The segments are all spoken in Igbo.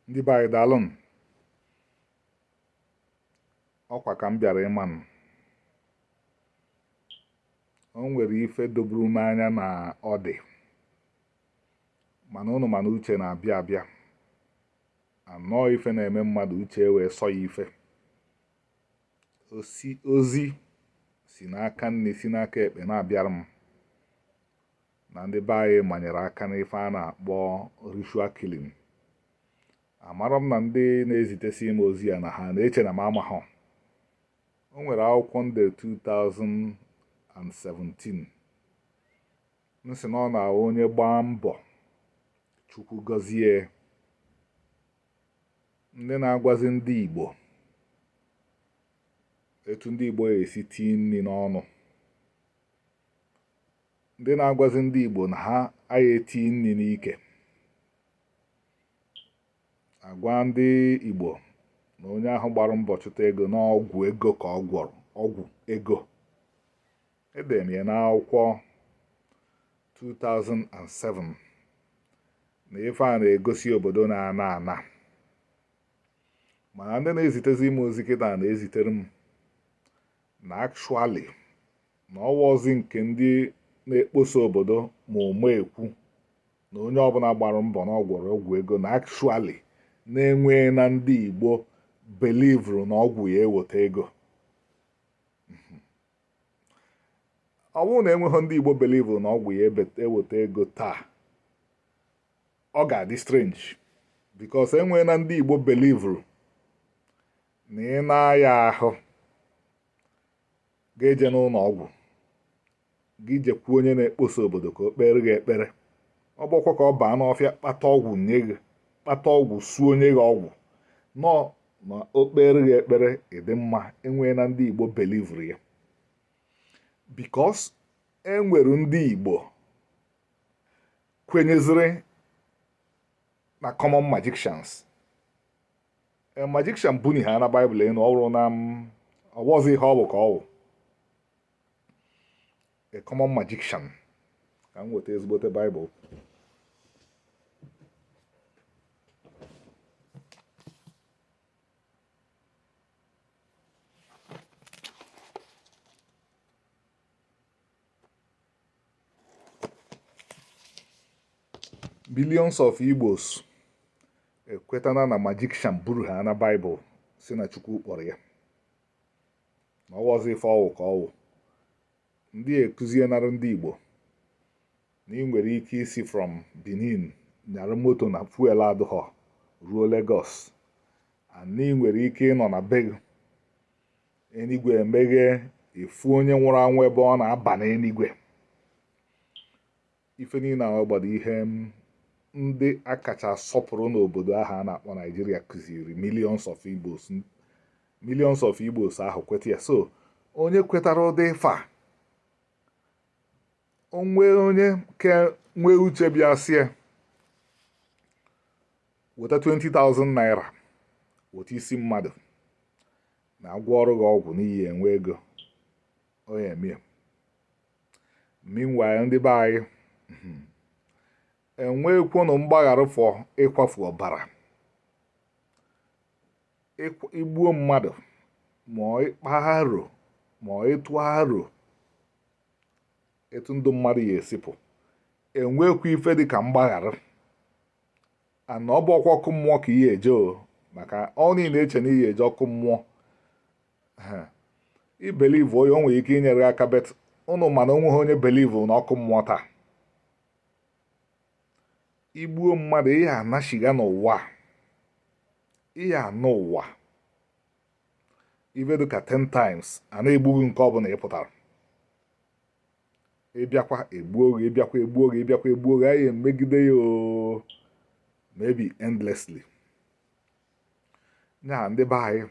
ndị be anyị daalụ nụ ọkwa ka m bịara ị ma na o nwere ife doburu m anya na ọ dị mana ụnụ ma na uche na-abịa abịa a nọọ ife na-eme mmadụ uche e wee sọ ya ife ozi si n'aka nni si n'aka ekpe na-abịara m na ndị be anyị manyere aka n'ife a na-akpọ ritual killing amara m na ndị na-ezitesi m ozi a na ha na-eche na m amahụ o nwere akwụkwọ m dee 2007 m sị na ọ na onye gbaa mbọ chukwu gọzie ndị na-agwazi ndị igbo etu ndị igbo ya-esi tii nri n'ọnụ ndị na-agwazi ndị Igbo na ha ya-eti nri n'ike a gwa ndị Igbo na onye ahụ gbara mbọ chụta ego na ọgwụ ego ka ọ gwọrọ ọgwụ ego edere m ya n'akwụkwọ 2007 na ife a na-egosi obodo na-ana ana mana ndị na-ezitezi m ozi kịta na-ezitere m na actually na ọ wụhọzi nke ndị na-ekposa obodo ma ụma ekwu na onye ọbụla gbara mbọ na ọ gwọrọ ọgwụ ego na actually na enwee na ndị Igbo belivuru na ọgwụ ya-eweta ego ọ bụrụ na enweghị ndị Igbo belivuru na ọgwụ ya-eweta ego taa ọ ga-adị strange because enwee na ndị Igbo belivuru na ị na-aya ahụ gị ejena ụlọ ọgwụ gị jekwu onye na-ekposa obodo ka o kpeere gị ekpere ọ bụkwa ka ọ baa n'ọfịa kpata ọgwụ nye gị kpata ọgwụ suo o nye gị ọgwụ ṅụọ na o kpeere gị ekpere ị dị mma enwee na ndị Igbo belivuru ya because enwere ndị Igbo kwenyeziri na common magicians e, magician bunihana baịbụl enu ọ bụrụ na m ọ wụhọzi ihe ọ bụ ka ọ wụ a common magician ka m weta ezigbote baịbụl millions of Igbos ekwetana na magician buru ha na Baịbụl sị na Chukwu kpọrọ ya na ọ wụzi ife ọ wụ ka ọ wụ ndị ekụzienara ndị Igbo na ị nwere ike isi from Benin nyara moto na fuel adụghọ ruo Lagos na ị nwere ike ịnọ na be eluigwe emeghe ị fụ onye nwụrụ anwụ ebe ọ na-aba n'eluigwe ife niile a wụgbado ihe ndị a kacha sọpụrụ n'obodo ahụ a na-akpọ Nigeria kụziri millions of igbos millions of igbos ahụ kweta ya so onye kwetara ụdị ife a o nwee onye ke nwee uche bịa sie weta 20,000 naira weta isi mmadụ na a gwọọrọ gị ọgwụ na ị ya enwe ego ọ ya emie meanwhile ndị be anyị hmm, e nwekwanụ mgbaghara for ịkwafu ọbara i gbuo mmadụ ma ịkpa aro ma ịtụ aro etu ndụ mmadụ ya esi pụọ e nwekwa ife dị ka mgbaghara and ọ bụkwa ọkụ mmụọ ka ị ya eje o maka ọnụ ị na-eche na ị ya eje ọkụ mmụọ ị believe ya o nwere ike inyere aka but ụnụ ma na o nweghị onye believe na ọkụ mmụọ taa i gbuo mmadụ ị ya anachigha n'ụwa ị ya anọ ụwa ibe dịka 10 times a na-egbughị nke ọbụla ị pụtara ịbịakwa egbuo gị ịbịakwa egbuo gị ịbịakwa egbuo gị anyị emegide ya oo maybe endlessly ya ndị be anyị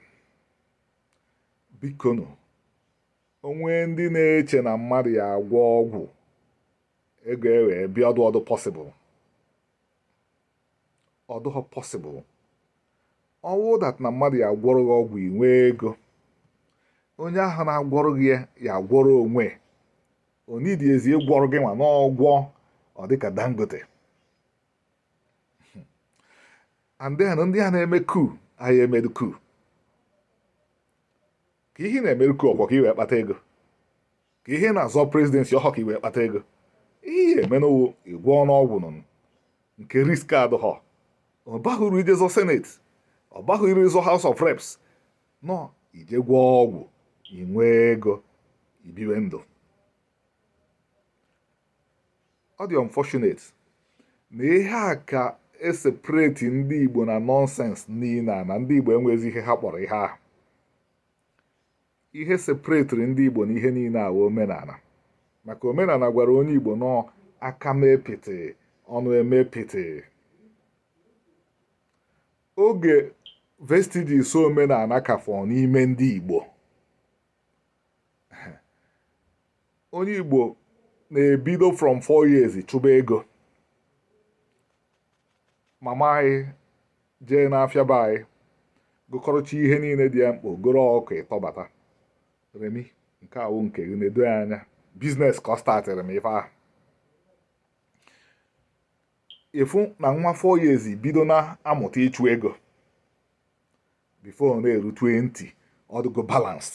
bikonu onwe ndị na-eche na mmadụ ya agwọ ọgwụ ego ewee bịa ọdụ ọdụ pọsịbụl ọ dụghọ possible ọ wụ that na mmadụ ya agwọrọ gị ọgwụ i nwee ego onye ahụ na-agwọrọ gị ya ya agwọrọ onwe o needizi ịgwọrọ gị nwa na ọ gwọọ ọ dịka dangote and then ndị a na-eme coup a ya emedu coup ka ihe na-emeru coup ọ kwọ ka i wee kpata ego ka ihe na-azọ presidency ọ họ ka i wee kpata ego ihe emenụwo ị gwọọnụ ọgwụ nọ nke risk adịghọ ọ baghị uru ije zọ senate ọ baghị uru ịzọ house of reps nọ i jee gwọọ ọgwụ i nwee ego i biwe ndụ ọ dị unfortunate na ihe a ka eseparate ndị igbo na nonsense niile a na ndị igbo enwezi ihe ha kpọrọ ihe ahụ ihe sepretịrị ndị Igbo na ihe niile a wụ omenala maka omenala gwara onye Igbo nọọ aka mee pịtị ọnụ emee pịtị oge vestiges of omenala ka fọ n'ime ndị Igbo onye Igbo na-ebido from four years chụba ego mama anyị jee n'afịa be anyị gokọrọcha ihe niile dị ya mkpa goro ọkụkọ bata remi nke a wụ nke gị nedo ya anya biznes ka ọ statịrị m ife ahụ ị fụ na nwa four years bido na-amụta ịchụ ego bifo na-eru 20 ọ dịgo balanced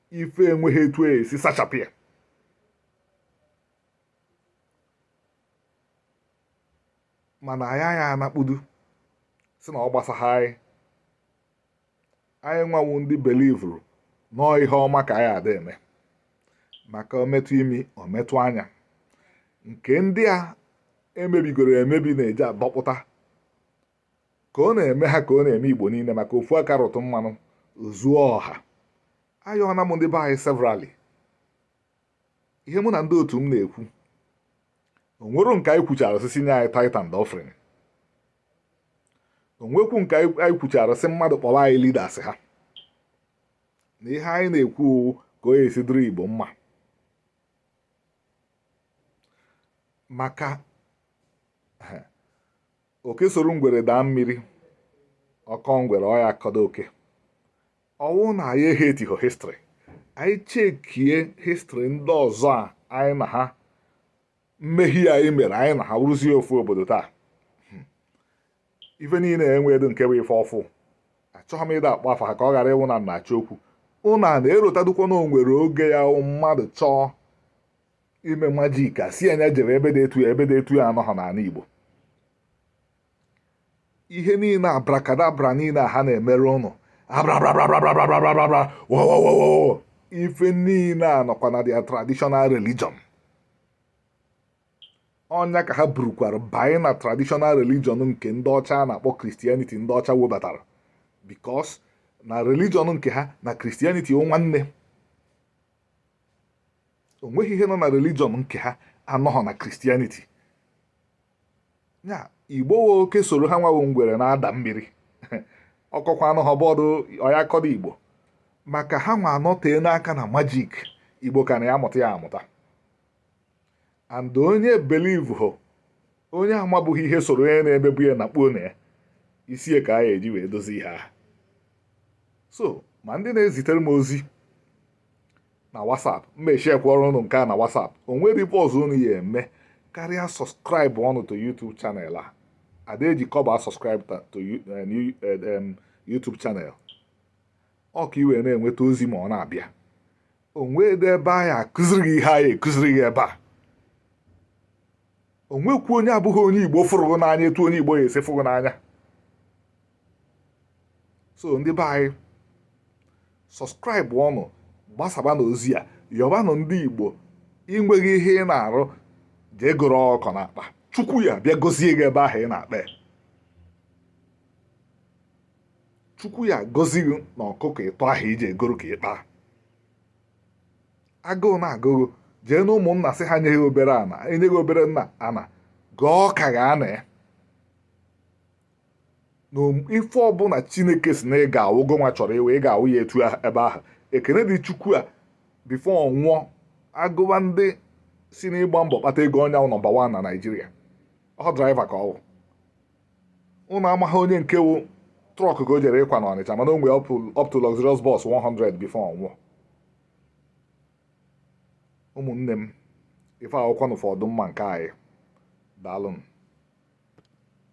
ife enweghị etu e si sachapụ ya mana anyị aya anọkpudo sị na ọ gbasaghị anyị anyị nwa wụ ndị belivuru nọọ ihe ọma ka anyị ada eme maka o metụ imi o metụ anya nke ndị a emebigoro emebi na-eji adọpụta ka ọ na-eme ha ka ọ na-eme igbo niile maka ofu aka rụta mmanụ o zuo ọha ayọọna m ndị be anyị severally ihe mụ na ndị otu m na-ekwu o nwero nke anyị kwuchara sị sị nye anyị tithe and offering o nwekwu nke anyị kwuchara sị mmadụ kpọrọ anyị leaders ha na ihe anyị na-ekwu ka ọ ya-esi dịrị igbo mma maka oke soro ngwere daa mmiri ọ kọọ ngwere ọ ya-akọdụ oke ọ wụ na anyị echekiho histrị anyị chekie histrị ndị ọzọ a anyị na ha mmehie anyị mere anyị na ha wụrụzie ofu obodo taa hmm. ife niile enweghị nke bụ ife ọfụụ achọghị m ịda akpọ afa ha ka ọ ghara ịwụ na m na-achọ okwu unu na-erotadụkwa na o nwere oge ya mmadụ chọọ ime majik a sị na ya jere ebe dị etu ya ebe dị etu ya anọghị n'ala Igbo ihe niile abrakadabra niile a ha na-emere unu abrabrabrabrabrabrabrabra ife niile a nọkwa na their traditional religion ọ nya ka ha burukwara banye na traditional religion nke ndị ọcha a na-akpọ kristianity ndị ọcha webatara bikos na religion nke ha na kristianity wụ nwanne o nweghị ihe nọ na religion nke ha anọghọ na kristianity ya igbo wụ oke soro ha nwa wụ ngwere na-ada mmiri ọ kọkwa ha n'ahụ bọọdụ ọ ya-akọdụ igbo maka ha nwa anọteena aka na majik igbo ka na-aya amụta ya amụta and onye believehọ onye amabughị ihe soro onye na-emebu ya na kpuo na ya isie ka a ya-eji wee dozie ihe ahụ so ma ndị na-ezitere m ozi na WhatsApp m mechikwara ụnụ nke a na WhatsApp o nwere ife ọzọ unu ya-eme karịa subscribe ọnụ to YouTube channel a a da-eji kọbọ a subscribe to eh, eh, YouTube channel ọ ka i wee na-enweta ozi ma ọ na-abịa o nwedị ebe a ya-akụziri gị ihe anyị na-akụziri gị ebe a o nwekwu onye abụghị onye igbo fụrụ n'anya etu onye igbo ya-esi fụ gị n'anya so ndị be anyị subscribe ọnụ gbasabanụ ozi a yọbanụ ndị igbo i nweghị ihe ị na-arụ jee goro ọkụkọ na-akpa chukwu ya-abịa gozie gị ebe ahụ ị na-akpa chukwu ya-agọzi gị na ọkụkọ ịtọ ahụ i je goro ka ị kpara agụụ na-agụ gị jee na ụmụnna sị ha nye gị obere ana e nye gị obere nna ana gọọ ọka ga ana ya na ife ọbụla chineke sị na ị ga-awụ gụnwa chọrọ ịwụ ị ga-awụ ya etu ebe ahụ Ekene Dị Chukwu a before ọ nwụọ agụwa ndị si n'ịgba mbọ kpata ego ọ nya wụ number one na Nigeria ọ driver ka ọ wụ ụnụ amaghị onye nke wụ truck ka o jere ịkwa na Ọnịcha mana o nwere up to luxurious bus 100 before ọ nwụọ ụmụnne m ife akwụkwọ na ụfọdụ mma nke anyị daalụnụ